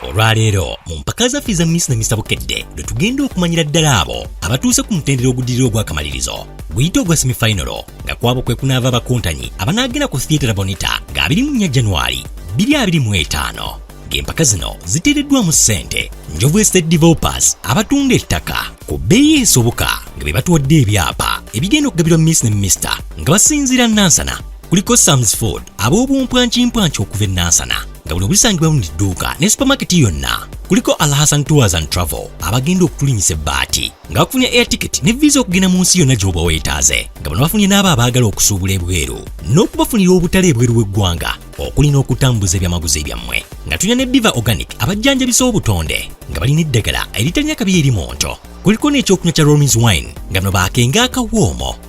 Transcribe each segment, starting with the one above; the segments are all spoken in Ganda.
olwaleero mu mpaka zaffe eza miss na misa bukedde lwe tugenda okumanyira ddala abo abatuuse ku mutendera ogudirira ogw'akamalirizo guyite ogwa semifinalo nga kwabo kwe kunaava abakontanyi abanaagenda ku theatre bonita nga 21 january 2025 ng'empaka zino ziteereddwamu ssente njovu estate developers abatunda ettaka ku bbeeyi esoboka nga be batuwadde ebyapa ebigenda okugabirwa miss ne mister nga basinziira nansana kuliko Sam's Ford ab'obumpwankimpwanki okuva e Nansana nga buno busangibwa mu dduuka ne supamaketi yonna kuliko Alhassan Tours and Travel abagenda okutulinyisa ebbaati nga bafunye air ticket ne visa okugenda mu nsi yonna gy'oba weetaaze nga bano bafunye n'abo abaagala okusuubula ebweru n'okubafunira obutale ebweru w'eggwanga okuli n'okutambuza ebyamaguzi ebyammwe nga tulina ne Diva Organic abajjanjabisa obutonde nga balina eddagala eritalina kabi eri mu nto kuliko n'ekyokunywa kya Romins Wine nga bano baakenga akawoomo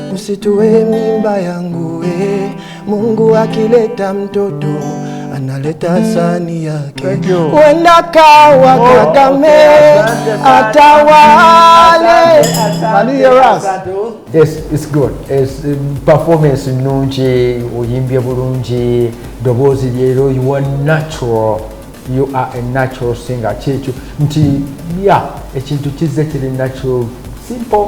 Msitue mimba yangu we, Mungu akileta mtoto analeta sani yake, wenda kawa oh, Kagame atawale. Yes, it's good. It's, um, performance nungi, uyimbye bulungi, dobozi lyero, you are natural. You are a natural singer. Kyekyo nti ya ekintu kizze kiri natural simple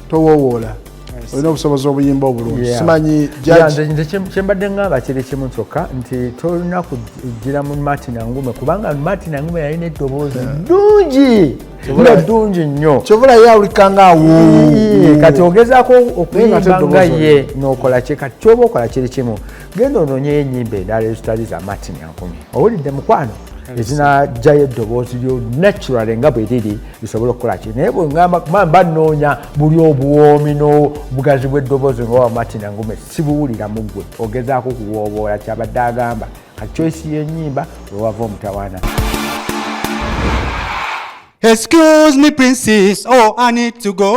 towowoola olina obusobozi obuyimba obulungi simanyi nze kyembadde ngamba kiri kimu kyokka nti tolina kujira mu martin angume kubanga martin angume yalina eddoboozi ddungi nga ddungi nnyo kyovulayo awulikanga awoo kati ogezaako okuyimba nga ye nokola kye kati kyoba okola kiri kimu genda ononyeyo enyimba endala ezitali za martin ankumi owulidde mukwano ezinajjayo eddoboozi lyo natural nga bwe liri lisobola okukola ki naye bwegamba kuma mba nnoonya buli obuwoomi n'obugazi bw'eddoboozi nga wa martin angume sibuwulira mu ggwe ogezaako okuwooboola kyabadde agamba kati choisi y'enyimba wewava omutawaana Excuse me, princess. Oh, I need to go.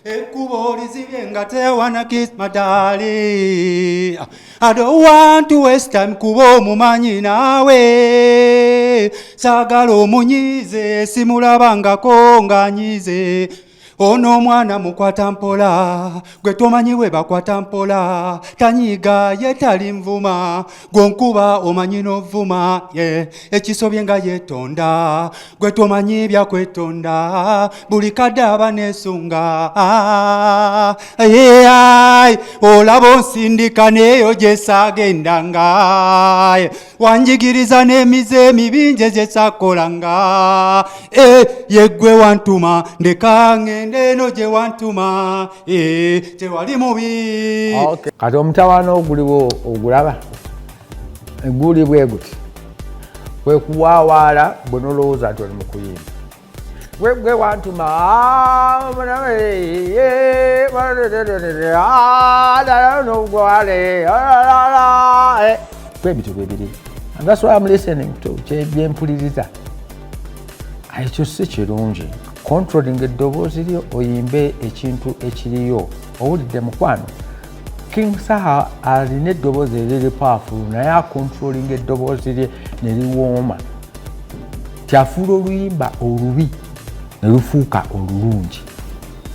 Ekkubo lizibye nga tewana kiss my darling I don't want to waste time kuba omumanyi naawe saagala omunyiize simulabangako nganyiize ono omwana mukwata mpola gwe tomanyi we bakwata mpola tanyiiga ye tali nvuma gwenkuba omanyi novuma ye ekisobye nga yetonda gwe tomanyi byakwetonda buli kadde aba nesunga ai olaba onsindika neyo gyesagendanga wanjigiriza n'emize emibinje gyesakolanga e, yegwe wantuma ndeka ngende eno gye wantuma Ee, tewali mubi okay. kati omutawaana oguliwo ogulaba guli bwe guti kwekuwaawaala bwe nolowooza nti oli mu kuyimba gwegwe wantuma kwebityo bwebiri that's why am listening to byempuliriza ekyo si kirungi controlling eddoboozi lyo oyimbe ekintu ekiriyo owulidde mukwano king saha alina eddoboozi eriri paafulu naye akontrolinga eddoboozi lye ne liwooma kyafuula oluyimba olubi ne lufuuka olulungi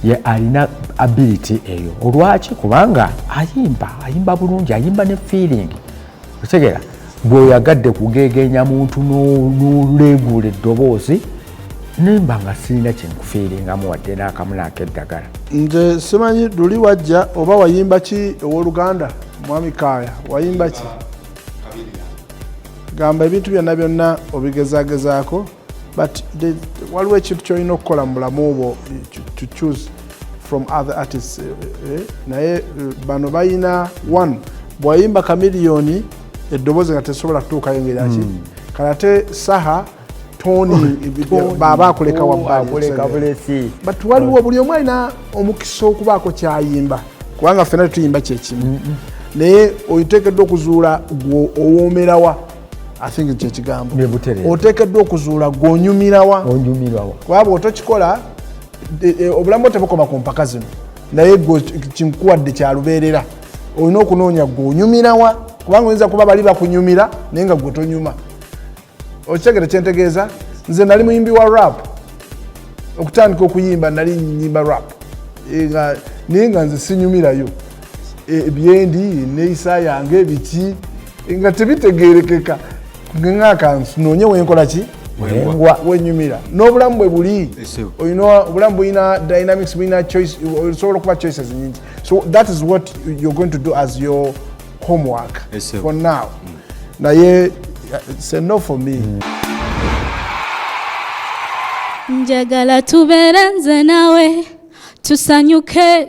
ye alina ability eyo olwaki kubanga ayimba ayimba bulungi ayimba ne feeling otegera gwe oyagadde kugegenya muntu noleeguula eddoboozi nemba nga sirina kyenkufiiringamu wadde n'akamu nakeddagala nze simanyi luli wajja oba wayimba ki owoluganda mwami kaaya wayimba ki gamba ebintu byonna byonna obigezagezaako but waliwo ekintu kyolina okukola mu bulamu bwo to choose from other artists eh, eh, eh. naye bano balina one bwayimba kamiliyoni eddoboozi nga tesobola kutuukayo ngeraki hmm. kalate saha toni baba akuleka wabbali but waliwo buli omu alina omukisa okubaako kyayimba kubanga fena tetuyimba kyekimu naye otekedwa okuzuula gwe owomerawa athinki kyekigambo otekeddwa okuzuula gwonyumirawa kuba bwotokikola e, e, obulamu tebukoma ku mpaka zino naye gwe kinkuwadde kyalubeerera olina okunoonya gwonyumirawa kubanga oyinza kuba bali bakunyumira naye nga gwe tonyuma okitegere kyentegeeza nze nali muyimbi wa rap okutandika okuyimba nali nyimba rap e, naye nga nze sinyumirayo Eh, byendi neyisa yange biki nga tebitegerekeka ngaakanonye wenkola ki wengwa wenyumira n'obulamu bwe buli olina obulamu bulina dynamics bulina choice osobola okuba choices nyingi so that is what you're going to do as your homework for now mm. naye uh, say no for me mm. njagala tubeere nze nawe tusanyuke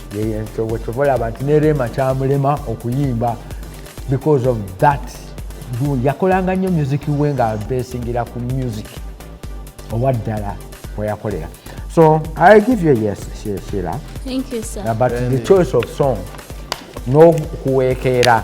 kyobola abantu ne rema kyamulema okuyimba because of that yakolanga nnyo music we nga besingira ku music owa ddala weyakolera so i give you yes shira but the choice of song n'okuweekeera no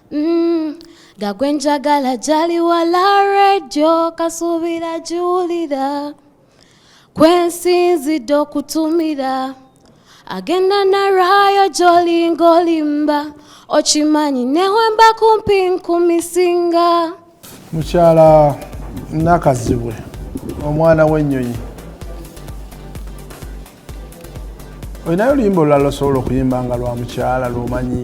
Mm, nga gwe njagala gyali wala redio kasuubira giwulira kwensinzidde okutumira agenda naraayo gyolinga olimba okimanyi newemba kumpi nkumisinga mukyala nakazibwe omwana w'ennyonyi olinayo oluyimba olulala osobola okuyimba nga lwa mukyala lwomanyi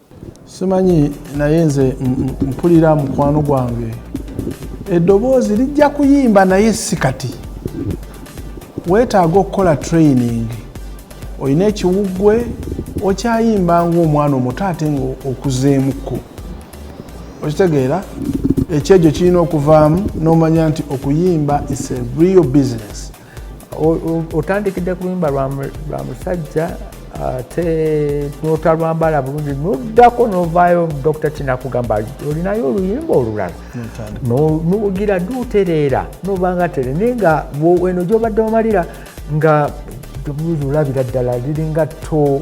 simanyi naye nze mpulira mukwano gwange eddoboozi lijja kuyimba naye si kati weetaaga okukola training olina ekiwuggwe okyayimba ngaomwana omuto ate nga okuzeemukko okitegeera ekyejo kirina okuvaamu n'omanya nti okuyimba is a real business otandikidde ku luyimba lwa musajja ate notalwambala bulungi noddako novaayo dokita kinakugamba olinayo oluyimba olulala nugira dutereera nobanga tere naye nga eno gyobadde omalira nga olabira ddala liringa to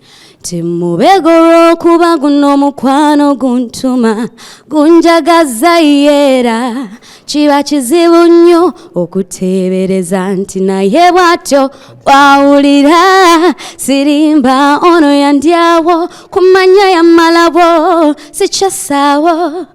timubega olw'okuba guno omukwano guntuma gunjagaza yeera kiba kizibu nnyo okuteebereza nti naye bw'atyo bwawulira sirimba ono yandyawo kumanya yamalabo sikyasaawo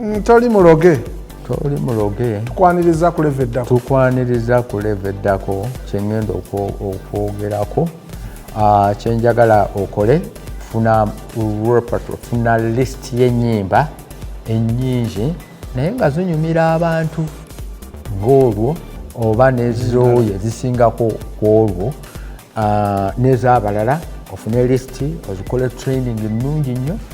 Mm, toli muloge toli muloge tukwaniriza kuleva eddako tukwaniriza kuleva eddako kyengenda okwogerako ah, kyenjagala okole funa repertoire funa list yenyimba enyingi naye nga zinyumira abantu ngaolwo oba nezooyo ezisingako kwolwo ah, nezabalala ofune list ozikole training nungi nnyo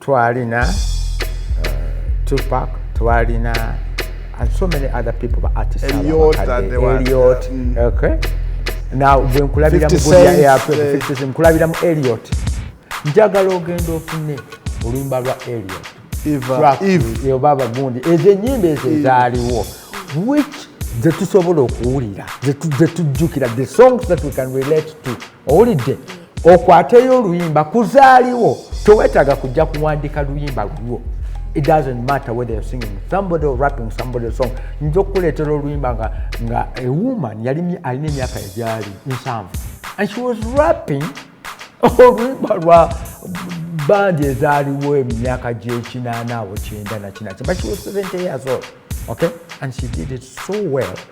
twalina uh, tupac twalina and so many other people ba artist eliot mm. okay now gwe nkulabira mu gulya yakwe eh. nkulabira mu eliot njagala ogenda ofune oluyimba lwa eliot baba gundi ezo enyimba ezo ezaaliwo which zetusobola okuwulira zetujjukira the songs that we can relate to owulidde okwateyo oluyimba kuzaaliwo tewetaaga kujja kuwandika luyimba lulwo it doesn't matter whether you're singing somebody or rapping somebody song nja okukuleetera oluyimba nga nga a woman yali alina emyaka egyali nsanvu and she was rapping oluyimba lwa bandi ezaaliwo emyaka gyekinaana awo kyenda nakinaki but she was 70 years old okay and she did it so well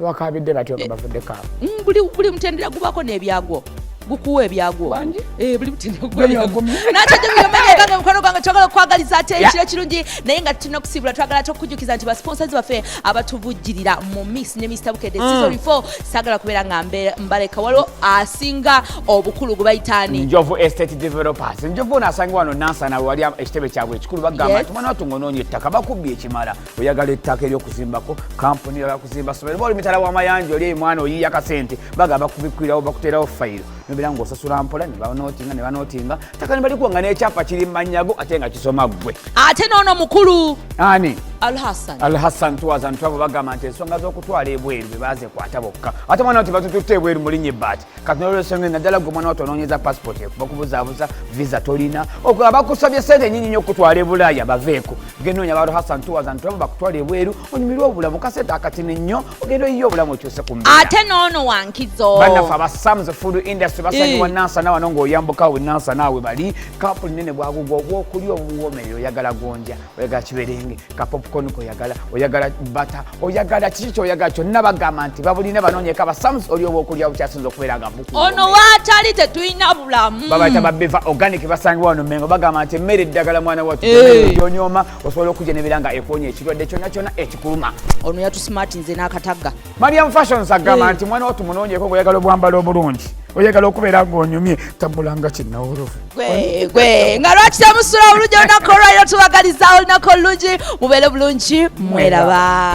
abakaabidde batyo nga bavudde kaaba mm, buli mutendera gubako n'ebyagwo gukuwa ebyagwo eh, buli mutenderagumanyagange mukwano gwange twagala okukwagaliza ate ekiro ekirungi naye nga tulina okusiibula twagala ate okukujukiza nti basponsors baffe abatuvujjirira mu miss ne mr bukede mm. season 4 sagala kubeera nga mbaleka waliwo asinga obukulu gubayitaani njovu estate developers njovu ono asanga wano nansana wali ekitebe kyabwe ekikulu bagamba nti mwana watunga onoonya ettaka bakubbye ekimala oyagala ettaka eryokuzimbako kampuni yala kuzimba somero oba oli mitala wamayanja oli emwana oyiya kasente bagamba kubikwirawo bakuterawo fayiro nobera nga osasula mpola nebanotinga nebanotinga taka nebalikuwa nga nekyapa kiri mumanyago ate nga kisoma gwe ate noono mukulu ani alhassan twazantu abo bagamba nti ensonga zokutwala ebweru bebazekwata bokka ate mwana nti batututte ebweru mulinye baati kati nolwesonga naddala gwe omwana watononyeza passport ekuba kubuzabuza visa tolina ogo abakusabye sente enyinyi nyo okutwala ebulaaya baveeko genoonya balo hasan tuwazantuamu bakutwala ebweru onyumirwa obulamu kasente akatini nnyo ogenda oyiye obulamu okyuse ku mbeera ate noono wankizo bannaffe aba sams food industry basanyiwa eh. nansana wano ng'oyambuka we nansana we bali kampuni nene bwagugwa obwokulya obuwoomerera oyagala gonja oyagala kiberenge ka popcorn koyagala oyagala bata oyagala kiki kyoyagala kyonna bagamba nti babulina banoonyeka basams oli oba okulya bukyasinza okubeera nga buku ono waatali tetulina bulamu babayita babeva organic basangibwa wano mengo bagamba nti emmere eddagala mwana watu eh. yonyooma osobola okujja nebeera nga ekwonya ekirwadde kyonna kyonna ekikuluma ono yatusimatinze n'akatagga mariam fashions agamba eh. nti mwana watu munonyeko ngoyagala obwambalo obulungi oyagala okubeera ngaonyumye tambulanga kinawolovu gwegwe nga lwaki temusula obulungi olunaku olwaliro tubagaliza olunaku olulungi mubeere bulungi mweraba